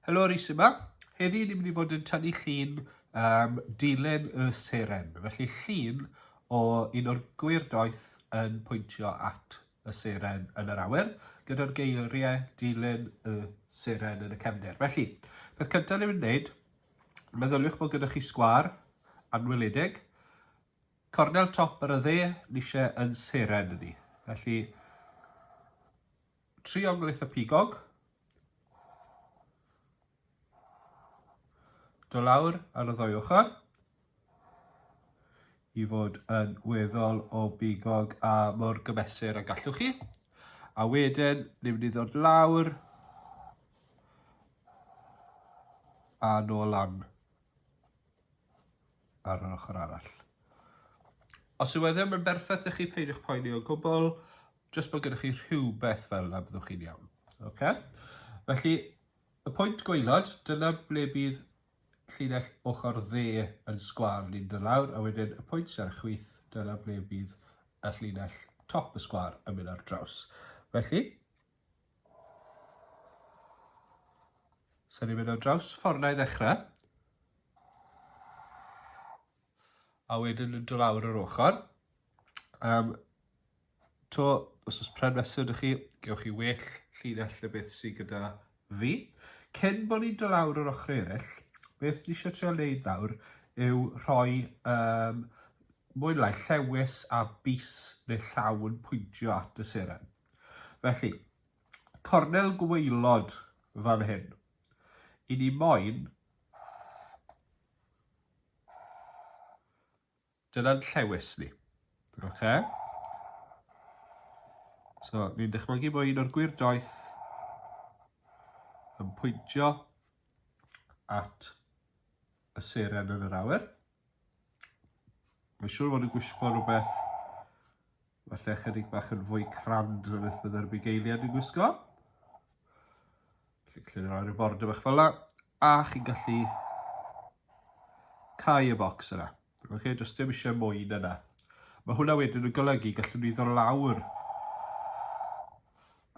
Helo, Rhys yma. Heddi ni'n mynd i fod yn tynnu llun um, dilyn y seren. Felly llun o un o'r gwir doeth yn pwyntio at y seren yn yr awyr, gyda'r geiriau dilyn y seren yn y cefnder. Felly, beth cyntaf ni'n mynd i wneud Meddyliwch bod gyda chi sgwâr anweledig, cornel top yr ydde ni eisiau yn seren ydi. Felly, triongl eitha pigog, do lawr ar y ddwy ochr, i fod yn weddol o bigog a mor gymesur a gallwch chi. A wedyn, ni'n mynd i ddod lawr a nôl lan ar yr ochr arall. Os yw e ddim yn berffaith ydych chi, peidiwch poeni o gwbl, jyst bod gennych chi rhywbeth fel yna byddwch chi'n iawn. Okay? Felly, y pwynt gweilod, dyna ble bydd llinell ochr dde yn sgwâr yn mynd yn lawr a wedyn y pwynt sy ar y chwith, dyna ble bydd y llinell top y sgwâr yn mynd ar draws. Felly, sy'n ni'n mynd ar draws y ffordd na i ddechrau, a wedyn yn dod lawr yr ochr, um, To, os oes pren fesur dych chi, gewch chi well llinell na beth sydd gyda fi. Cyn bod ni'n dod lawr yr ochrau eraill, beth ni eisiau trio wneud nawr yw rhoi um, mwy lai llewis a bus neu llaw yn pwyntio at y seren. Felly, cornel gweilod fan hyn. I ni moyn Dyna'n llewys ni. Oce? So, fi'n dychmygu bod un o'r gwir doeth yn pwyntio at y seren yn yr awyr. Mae'n siŵr fod yn gwisgo rhywbeth Falle ychydig bach yn fwy crand na beth byddai'r bugeiliad yn gwisgo. Felly clir ar y bord y bach fel yna. A chi'n gallu cau y bocs yna. Oce, okay, does dim eisiau mwy na yna. Mae hwnna wedyn yn golygu gallwn ni ddod lawr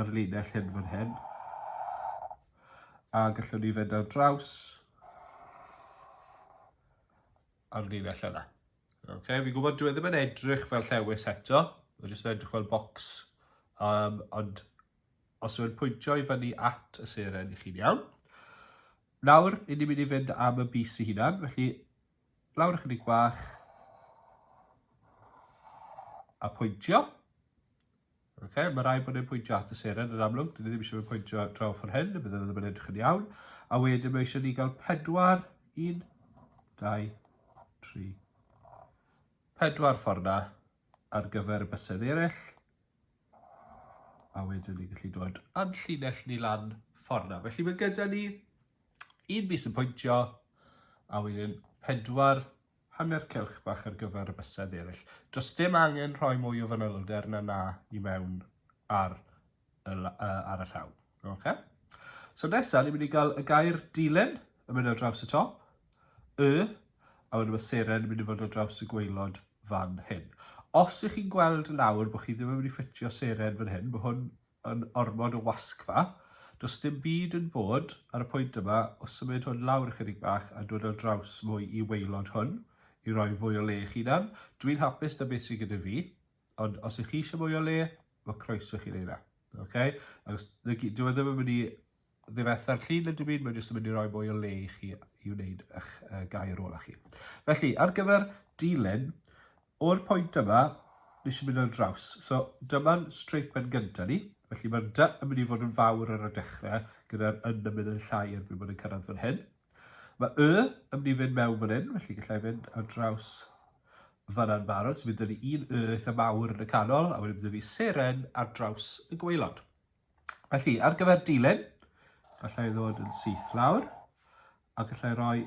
ar linell hyn fan hyn. A gallwn ni fynd ar draws ar linell yna. Ok, fi'n gwybod dwi e ddim yn edrych fel llewis eto, mae'n jyst yn edrych fel bocs. Um, ond os yw'n pwyntio i fyny at y seren i chi'n iawn. Nawr, i ni'n mynd i fynd am y bus i hunan, felly lawr ychydig bach a pwyntio. Ok, mae rhaid bod e'n pwyntio at y seren yn amlwg, dyn ni ddim eisiau fe pwyntio draw ffordd hyn, bydd e ddim yn edrych yn iawn. A wedyn mae eisiau ni gael pedwar, un, dau, tri, pedwar ffordd na ar gyfer y bysedd eraill. A wedyn ni'n gallu dod a'n llinell ni lan ffordd na. Felly mae gyda ni un bus yn pwyntio, a wedyn pedwar Hanner cylch bach ar gyfer y bysedd eraill. Does dim angen rhoi mwy o fanylder na 'na i mewn ar y, uh, ar y llaw. Okay? So nesaf, ni'n mynd i gael y gair dilyn yn mynd ar draws y top, y, a wedyn mae seren yn mynd i fod ar draws y gweilod fan hyn. Os ych chi'n gweld nawr bod chi ddim yn mynd i ffitio seren fan hyn, mae hwn yn ormod o wasgfa. Does dim byd yn bod ar y pwynt yma o symud hwn lawr ychydig bach a dod ar draws mwy i waelod hwn i roi fwy o le eich hunan. Dwi'n hapus da beth sy'n gyda fi, ond os ych chi eisiau mwy o le, mae croeso chi wneud na. Okay? Achos dyw e ddim yn mynd i ddifetha'r llun yn dim byd, mae'n jyst yn mynd i roi mwy o le i chi i wneud eich uh, gair ola chi. Felly, ar gyfer dilyn, o'r pwynt yma, nes i mynd ar draws. So, dyma'n straight pen gyntaf ni. Felly, mae'r dy yn mynd i fod yn fawr ar y dechrau, gyda'r yn yn mynd yn llai erbyn bod yn cyrraedd fan hyn. Mae y yn mynd i fynd mewn fan hyn, felly gallai fynd ar draws fanna'n barod. So, bydd ni un y eitha mawr yn y canol, a wedyn bydd fi seren ar draws y gweilod. Felly, ar gyfer dilyn, gallai ddod yn syth lawr, a gallai roi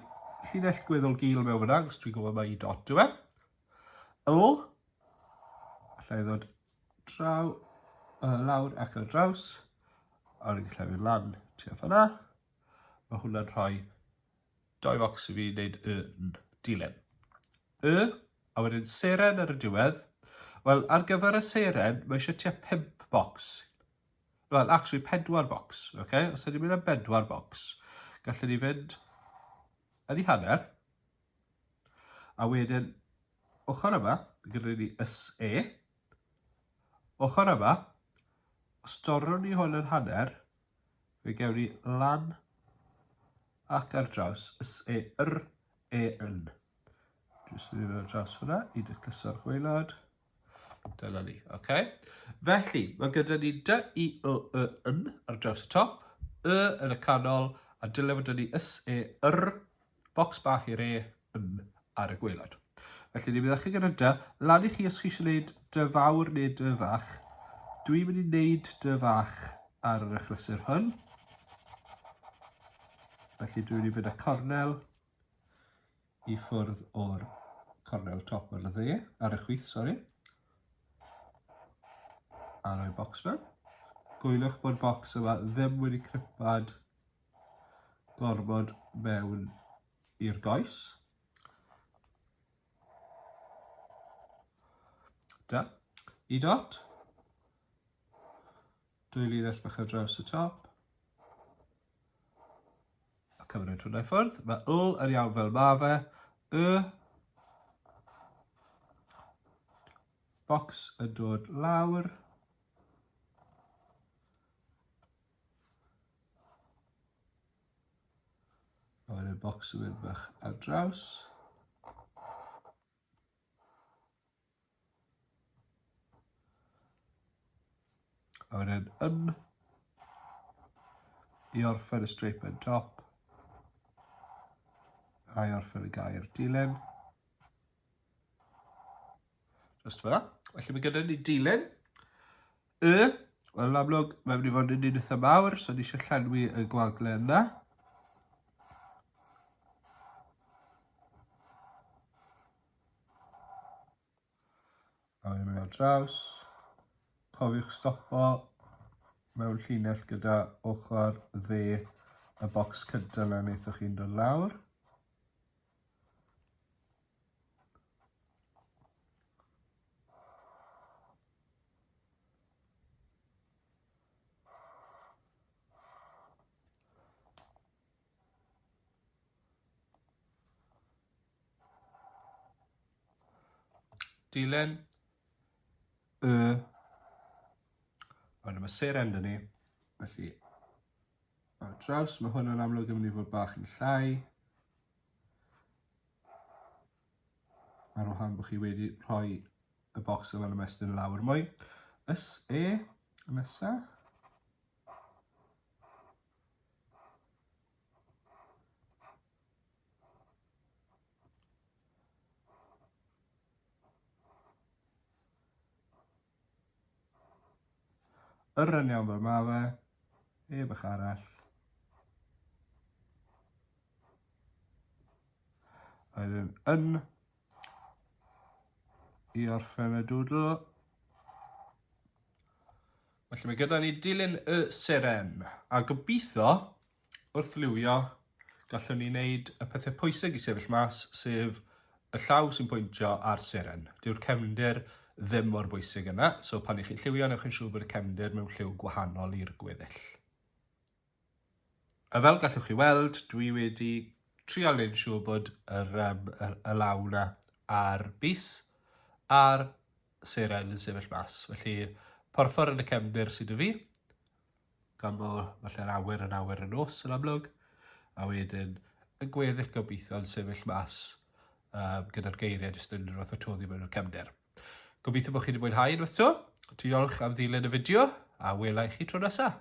llinell gweddol gil mewn fyna, os dwi'n gwybod mae i dot yw e. O, gallai ddod draw, uh, lawr ac ar draws, a rwy'n gallai fynd lan tu a fanna. Mae hwnna'n rhoi Dau focs i fi wneud y yn. Dilyn. Y, a wedyn seren ar y diwedd. Wel, ar gyfer y seren, mae eisiau tua pimp bocs. Wel, actually, pedwar bocs. Okay? Os ydy'n mynd am bedwar bocs, gallwn ni fynd yn ei hanner. A wedyn, ochr yma, gyda ni ys e. Ochr yma, os dorrwn ni hwn yn hanner, Fe gewn ni lan ac ar draws S, E, R, E, N. Jyst yn mynd ar draws hwnna i dy cluso'r gwaelod. Dyna ni, oce? Okay? Felly, mae gyda ni D, I, O, E, N ar draws y top, Y yn y canol, a dylai fod ni S, E, R, Bocs bach i re yn ar y gwaelod. Felly ni'n mynd â chi gyda dy lan i chi os chi eisiau gwneud dy fawr neu dy fach. Dwi'n mynd i wneud dy fach ar yr achlysur hwn. Felly dwi'n mynd i fynd â cornel i ffwrdd o'r cornel top ar y dde, ar y chwith, sori. A rhoi bocs mewn. Gwylwch bod bocs yma ddim wedi cripad gormod mewn i'r goes. Da. I dot. Dwy linell bach ar draws y top. A cymryd hwnna i ffwrdd. Mae wl yn iawn fel ma fe. Y bocs yn dod lawr. A wedyn bocs yn mynd bach ar draws. A wedyn yn i orffen y strape yn top. A i orffen y gair dilyn. Just fel that. Felly mae gyda ni dilyn. Y, wel amlwg, mae'n mynd i fod yn un eitha mawr, so ni eisiau llenwi y gwagle yna. A wedyn mynd ar draws. Cofiwch stopo mewn llinell gyda ochr dde y bocs cyntaf na wnaethoch chi'n dod lawr. Dylan y ond mae ser enda ni felly ar draws mae hwn yn amlwg yn mynd i fod bach yn llai Ar wahan bod chi wedi rhoi y bocs yma'n ymestyn lawr mwy. Ys e, nesa. Yr un iawn fel ma fe. Heb ych arall. Yr un yn. I orffen y dwdl. Felly mae gyda ni dilyn y seren. A gobeithio Wrth liwio, gallwn ni wneud y pethau pwysig i sefyll mas, sef y llaw sy'n pwyntio ar seren. Dyw'r cefndir ddim mor bwysig yna, so pan i chi'n lliwio, newch yn siŵr bod y cefndir mewn lliw gwahanol i'r gweddill. A fel gallwch chi weld, dwi wedi trial neu'n siŵr bod yr, um, y, y law na a'r bus a'r seren yn sefyll mas. Felly, porffor yn y cefndir sydd y fi, gan bod falle'r awyr yn awyr y nos yn amlwg, a wedyn yn gweddill gobeithio yn sefyll mas um, gyda'r geiriau jyst yn unrhyw fath o toddi mewn o'r cefnder. Gobeithio bod chi wedi mwynhau unwaith to. Diolch am ddilyn y fideo a wela i chi tro nesaf.